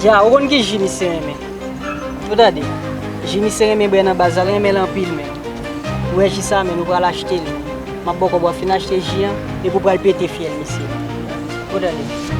Dja ou konn ki ji misye renmen Ou tande Ji misye renmen bwè nan baz la l renmen l anpil menm Ou wè ji sa menm nou pral achte li M ap ba w kòb w ap fin achte ji an epi w pral pete fyèl misye Ou tande.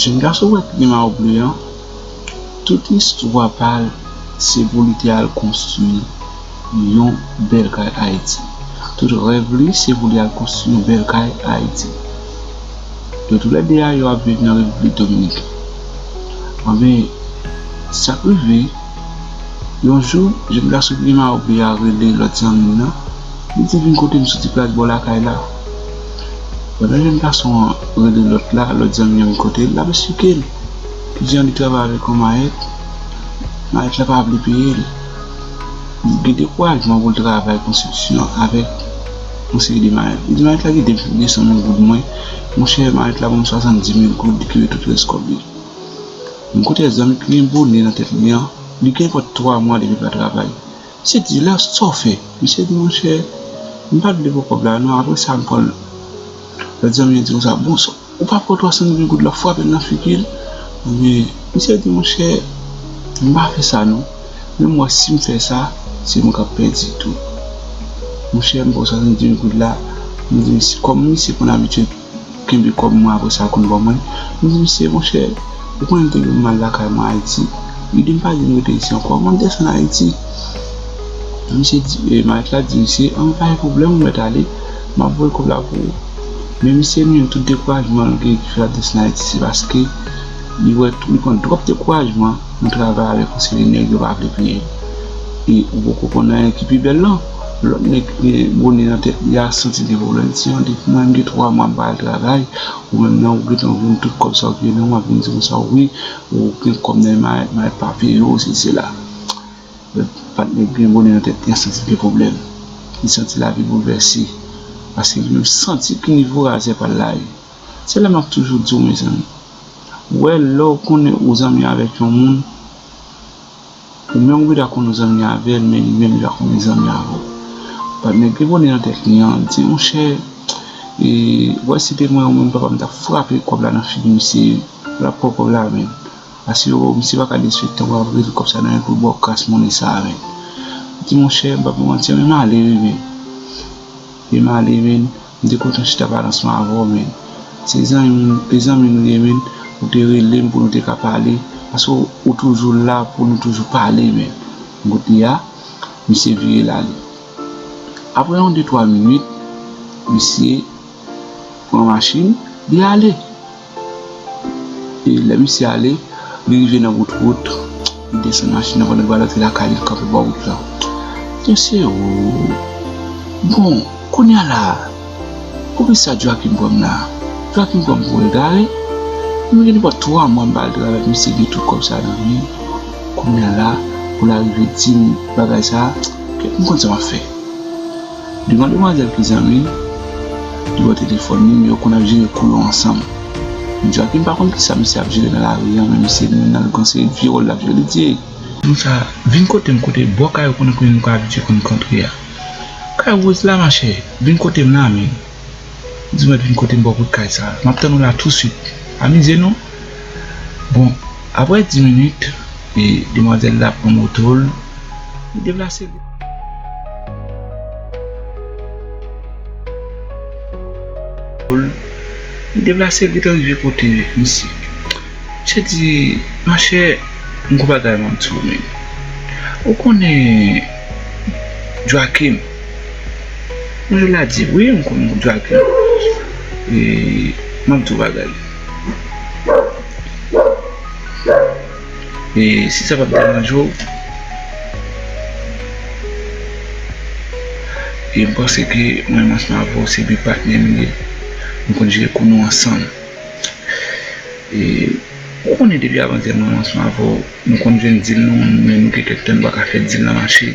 Jèn gason wè plim a ou ble an tout istwa pal se pou li te al konstwi yon bèl kay ayiti tout rèv li se pou li al konstwi yon bèl kay ayiti yo tou lè 2 a yo ap viv nan repiblik dominiken anben sak rive yon jou jèn gason plim a ou ble a rele lòt zanmil lan li di vin kotem soti plas bò lakay la. Pandan jèn gason an rele lòt la, lòt zanmi an kote l l ap esplike l ki jan li travay avèk yon mayèt, mayèt la pa vle peye l. Li gen dekourajman pou l travay konstriksyon avèk yon seri de mayèt. Li di mayèt la kite m pou 200 mil goud mwen, monchè mayèt la ban m 70 mil goud li kite tout rès kòb li. Yon kote zanmi ki gen bone nan tèt li an, li gen prèt 3 mwa depi l pa travay. Se di la saw fè? Misye di monchè m pa vle pran kòb la non aprè sa m pranl lòt zanmi an di konsa bon sa ou pa pran 320 goud la frapel nan figil anmweyy misye di monchè m pa fè sa non men m wè sim fè sa se mwen kap pèdi tou monchè m pran 320 goud la m di misye kòm misye konn abitye Ou kenbe kòb mwen apre sa ou konn ban mwen? M di misye, monchè, ou konnen m te gen mal lakay mwen Ayiti. Li di m pa di m rete isi ankò, mwen desann Ayiti. Misye di, malèt la di misye, an men pa gen pwoblèm ou mèt ale, m ap voye kòb la pou ou. Men misye menm tout dekourajman l gen ki fè l ap desann Ayiti se paske li wè li pran twòp dekourajman nan travay avèk yon seri nèg yo pa vle peye l. E ou poko konn anyen ki pi bèl lan. Lòt nèg bone nan tèt li a santi gen pwoblèm ti an depi mwen gen 3 mwa m pa al travay ou menm nan ou gentan vin tout kòb sa ou te gen nan ou ap vin di konsa wi ou gen kòb nan men mare pa peye ou si sela lòt patnè ki gen bone nan tèt li a santi gen pwoblèm li santi lavi boulvèse paske li menm santi ki nivo razè pa l la ye se la m ap toujou di w mezanmi wè lè ou konnen ou zanmi avèk yon moun. Ou menm ou pata konn zanmi avèl men li menm li pa konn li zanmi avèw bat nèg gen bonè nan tèt li an li di monchè ou wè si se te mwen ou menm papa m tap frape kòb la nan figi misye ou tap pran kòb la menn ase yo wèw misye paka disrespektew wap rele kòb sa nan menl poul baw kras monnen sa menn li di monchè m pap mantiw li malere menn li malere menn. M te kontan chita pale ansanm avè w menn. Se zanmi nou ye menn, ou te rele m pou nou te ka pale paske ou toujou la pou nou toujou pale menn. M kote a, misye vire l ale. Aprè yon de twa minit, misye pran machin li ale. e lè misye ale li rive nan wout wout li desann machin nan pandan li pral antre lakay li li kanpe bò wout la misye ooh bon kounya la poukisa Joachim pranm la Joachim pranm pou egare mwen gen nepòt 3 mwa mpa al travay pou misye gen tout kòb sa nan menl kounya la poul arive dim bagay sa mkonn sa map fè. Devan demwazèl ki zanmi l li bò telefòn li men yo konn ap jere kou yo ansanm men Joachim pa konn kisa misye ap jere nan lari an men misye di nan gon seri vye wòl lap jwe li di ey moun sa vin kotem kote bò kay ou konnen kote nou ka abitye konn kantre a kay Rose la machè vin kotem la men. Di mwen vin kote m bò kout kay sa a. M ap tann ou la tousuit. Amize nou! Bon, apre di minit, demwazèl la pran moto l, li deplase l. Li deplase l li te rive kote misye. Misye di, Monchè, m gou bagay m ap di w men. Ou konnen Joachim? Mwen la di wi m konn moun sa ki e map di w bagay e si sa pa deranje w e m panse ke mwen menm ansanm avè w se de patnè nou ye nou konn jere kou nou ansanm e ou konnen depi avan zè mwen ansanm avè w nou konn jwenn dil nan moun men nou gen kèk tan nou pa ka fè dil nan mache.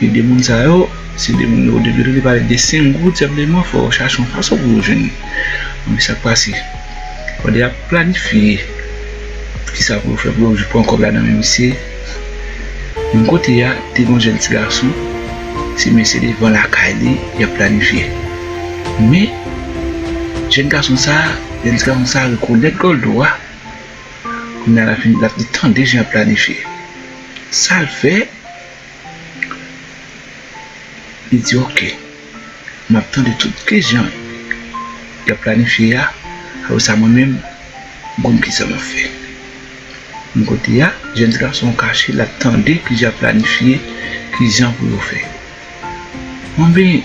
E de moun sa yo, se de moun odepi yo te pale de Senghor tout senpleman fò yo chache yon fason pou yo jwenn li. Anpi sa k pase? Pandan y ap planifye kisa pou yo fè pou yo pran kòb la nan men misye, menm kote a te gen yon jèn tigason, se men se devan lakay li y ap planifye. Men, jèn gason sa a, jèn tigason sa a rekonèt Doldo a, kounye a l ap fin, l ap li tande jan y ap planifye. Sa l fè? Li di ok, m ap tande tout kijan y ap planifye a, apre sa mwen menm m konn kisa m ap fè. M kote a, jèn ti gason an kache l ap tande kijan y ap planifye, kijan pou yo fè. Anben!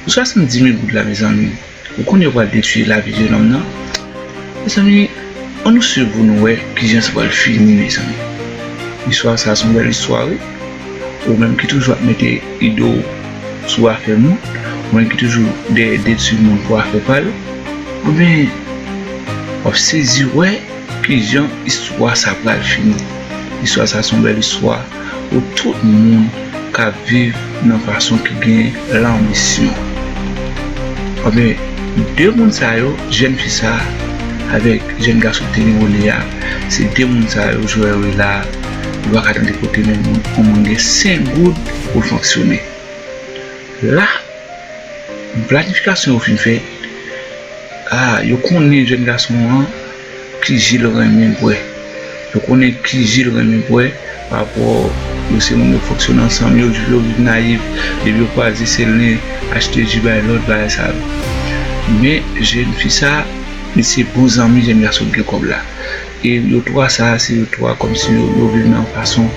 Pou 70 mil goud la mezanmi ou konn yo pral detwi lavi jenòm nan mezanmi an nou swiv pou nou wè kijan sa pral fini mezanmi istwa sa son bèl istwa wi ou menm ki toujou ap mete ido ou sou afè moun ou menm ki toujou dèyè detwi moun pou afè pal ou byen wap sezi wè. Ki jan istwa sa pral fini? Istwa sa se yon bèl istwa pou tout moun k ap viv nan fason ki gen lanbisyon. Anben, de moun sa yo, jèn fi sa a avèk jèn gason ki te gen Olye a, se de moun sa yo Jowèl wè la a. Ou pa ka tande kote yon moun gen 5 goud pou l fonksyone la. Planifikasyon yo fin fèt, a yo konnen jèn gason an ki je l renmen bwè, yo konnen ki je l renmen bwè parapò yo se moun yo fonksyone ansanm, yo vin nayif, depi yo kwaze se len achte ji bay lòt bagay sa yo men jèn fi sa li se bon zanmi jèn gason ki gen kòb la. E yo 3 sa a se yo 3 kòmsi yo viv nan yon fason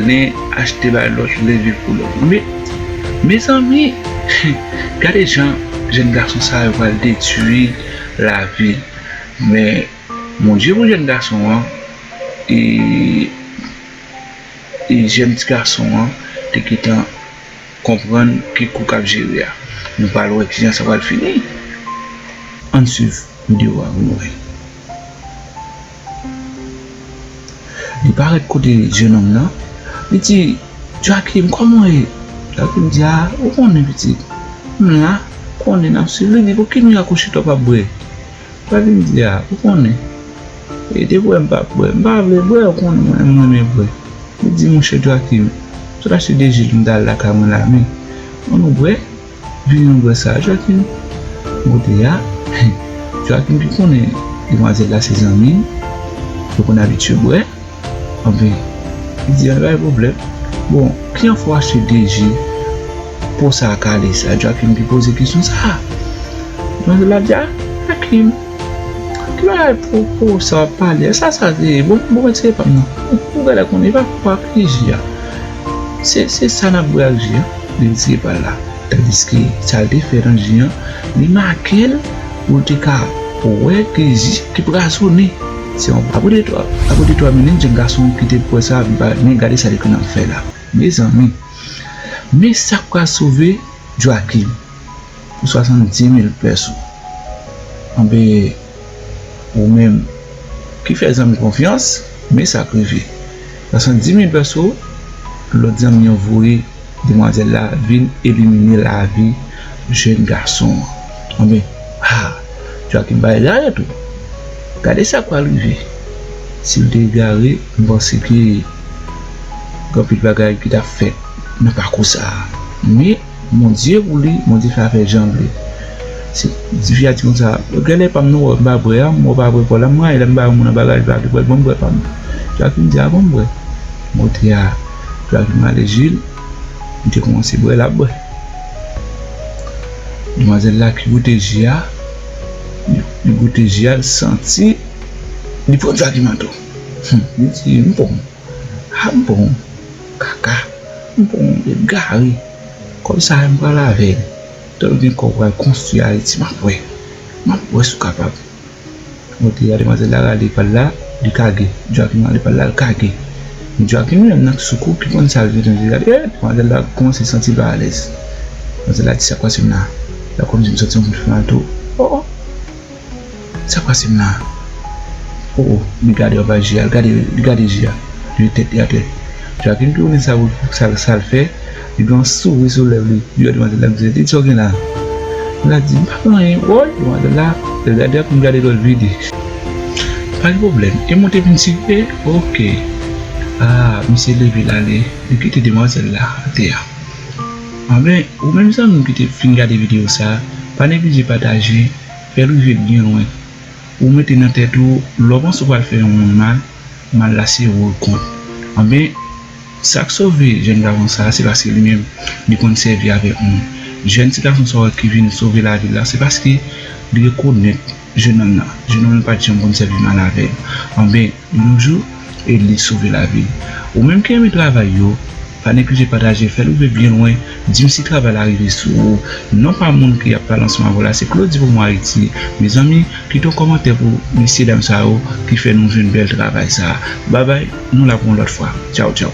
len achte bay lòt len viv pou lòt. Men mezanmi gade jan jèn gason sa yo pral detui lavi men Bondye pou jèn gason an e jèn ti gason an te gentan konprann ki kou kap jere a nou pral wè kijan sa pral fini ann swiv video a pou nou wè. Li parèt kote jenòm nan, li di, Joachim, kòman ou ye? Joachim di, A, ou konnen, pitit, m la, ou konnen, n ap suiv. Li di, Pouki nou akouche tou w pa bwè? Joachim di, A, ou konnen, e depi w wè m pa bwè, m pa vle bwè, ou konnen mwen menm m renmen bwè. Li di, Monchè Joachim, m sot achte de ji l m t al lakay mwen la men, an nou bwè? Vin nou wè sa Joaquin mode a Joaquin ki konnen demwazèl la se zanmi l yo konn abitye bwè anfen li di a pa gen pwoblèm bon kijan fè w achte 2 je po sa kale sa Joaquin ki poze kesyon sa demwazèl la di a Joaquin ki bagay po po sa wap pale a sa sa ye bon mwen se pa m nan ou gade la konn e pa po a ki je a se sa nap bwè ak je a. li di se pa l la. Tandiske sa l te fè nan je an, li make l pou l te ka wè ke je te brazonnen. Se yon pa bout de twa minit jèn gason an kite pou wè sa, li pa wè. Men gade sa li konn ap fè la. Mezanmi! Men sa k pral sove Joachim pou swasanndiz-mil pès ou. Anben, ou menm ki fè zanmi konfyans, men sa k rive. Swasanndiz-mil pès ou, lòt zanmi an voye. Demwazèl la vin elimine lavi jèn gason an. Anben, ha! Joachim bay lari tou. Gade sa k pral rive si l te egare. M panse ke gen anpil bagay ki t ap fèt nan pakou sa a. Men, Bondye pou li, Bondye fè afè jan l vle. Se, ti fi a di konsa, yo gen lè pa m nou wè, m pa bwè a, m wè w pa bwè pa w la. M rayi lè m ba yon moun an bagay l pa vle bwè l ban m bwè pa m. Joachim di, Abon m bwè? Mòtye a. Dlo a vin rale zye l. Li te kòmanse bwè, l ap bwè. Demwazèl la ki goute zye a, li goute zye a, li santi li pran sa ki nan dlo. Li di, m pran sa, m pran kaka, m pran egare. Kòb sa a, m pral avè l. Tan m gen kòb, m pral konstwi Ayiti. M ap wè, m ap wè si w kapab. Ok a demwazèl la rale pal la li kage Joachim rale pal la li kage men Joachim li menm nan sou kou ki konn sal vle tande li gade ee demwazèl la kòmanse santi l pa alèz demwazèl la di sak pase m la lap kòmanse m santi yon bout fè mal tou oo sak pase m la oo li gade anba je a li gade je a li leve tèt li atè Joachim tounen sa pou l sal fè. Li gen yon souri sou lèv li, li wè demwazèl la, li di, Lydie sa w gen la? Demwazèl la di, M pa gen anyen, woy! Demwazèl la gade ak m, gade lòt vi di, Pa gen pwoblèm, e moute vin sife? Ok! A, misye leve l ale, li kite demwazèl la atè a. Anben, ou menm zanmi m ki te fin gade videyo sa, pa neglije pataje, fè l rive byen lwen. Ou mete nan tèt ou, lè w panse ou pral fè yon moun mal, mal la se ou l kont anben sak sove jèn gason sa se paske li menm li konn sèvi avèk moun jèn ti gason sa ki vin sove lavi l la se paske li rekonèt jenòm nan jenòm nan pat janm konn sèvi mal avèl anben yon jou e li sove lavi l ou menm ki renmen travay yo. Pa neglije pataje fèl rive byen lwen dim si travay la rive sou ou non pa moun ki ap pale anseman avèw la se claudy pou mwen ayiti mezanmi kite yon kòmantè pou mesye dam sa yo ki fè nou jwenn bèl travay sa bye bye nou la pou yon lòt fwa tchaw tchaw.